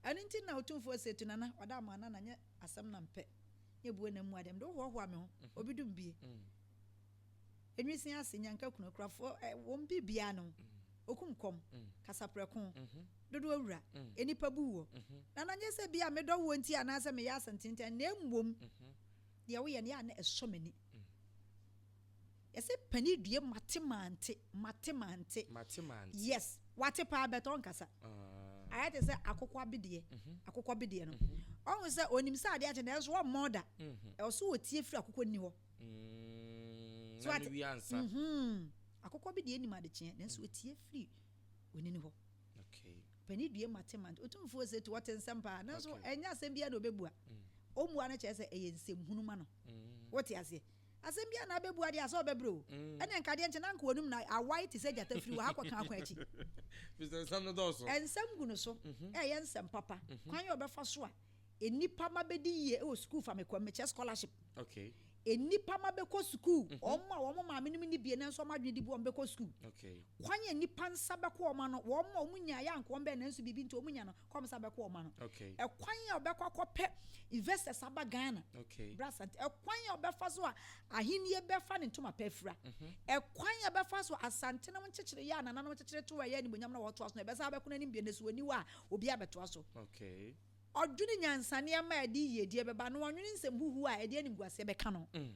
Ɛno nti na Otumfoɔ se, Tu nana, ɔda ama nana, nyɛ asɛm na mpɛ, nyɛ bue na mmu adeɛ, mede wo hoahoa me ho, obi dum bie, enwisiin ase, nyanka kunu, akurafoɔ, ɛ, wɔn biribiara ne wo, okum kɔm, kasaprɛko, dodoɔ wura, nnipa bu woɔ, nana, nyɛ sɛ ebia medɔ woɔ nti anaasɛ meyɛ asɛntenentan, na mmom deɛ woyɛ no, yɛ a na ɛsɔ m'ani. Yɛse pani due mate mante mate mante. Mate mante. Yes wate paa but ɔnkasa. Ayɛ te sɛ akokɔ abedeɛ akokɔ bedeɛ no ɔhu sɛ ɔnim sɛ adeɛ akye nanso ɔmmɔ ɔda ɛwɔ sɛ ɔtie firi akokɔ nni hɔ. Mm na no wie ansa. Akokɔ bi deɛ nim adekyeɛ nanso ɔtie firi onini hɔ. Okay. Pani due mate mante otumfoɔ ɔse to ɔte nsɛm paa nanso ɛnyɛ asɛm biara na ɔbɛbua ɔmmua no kyerɛ sɛ ɛyɛ nsɛmhunu ma no wote aseɛ. Asɛm biara na abɛbua deɛ a sɛ ɔbɛbrɛ o. Ɛneɛ nka adeɛ nkye na anka ɔnim na awae te sɛ gyata firi wɔ ha kɔka kwan akyi. Firi sɛ nsɛm no dɔɔso. Nsɛm gu no so ɛɛyɛ nsɛm papa. Kwan a ɔbɛfa so a nnipa mma bɛdi yie wɔ sukuu fa me kɔ mekyɛ scholarship. Nnipa mma bɛkɔ sukuu, wɔn a wɔn maame nom nni bie nanso wɔn adwene di bu wɔn bɛkɔ sukuu. Kwan a nnipa nsa bɛkɔ wɔn ano, wɔn a wɔn nyaeɛ anka wɔn bɛn nanso biribi nti wɔn nya no, kɔm sɛ abɛkɔ ɔma no ɛkwan a ɔbɛkɔ akɔpɛ investors aba ghana bra asante ɛkwan a ɔbɛfa so a ahennie bɛfa ne ntoma pɛ afira mhm. ɛkwan a ɛbɛfa so asante no nkyekyere yɛ a nananom nkyekyere to ɛyɛ animonyam na wɔtoa so na ɛbɛsa bɛko no anim bia nasuo aniwa a obi abɛtoa so ɔdwene nyansaneɛ ma ɛde yiedie bɛba na ɔnwene nsɛm huhu a ɛde animguaseɛ bɛka no mm.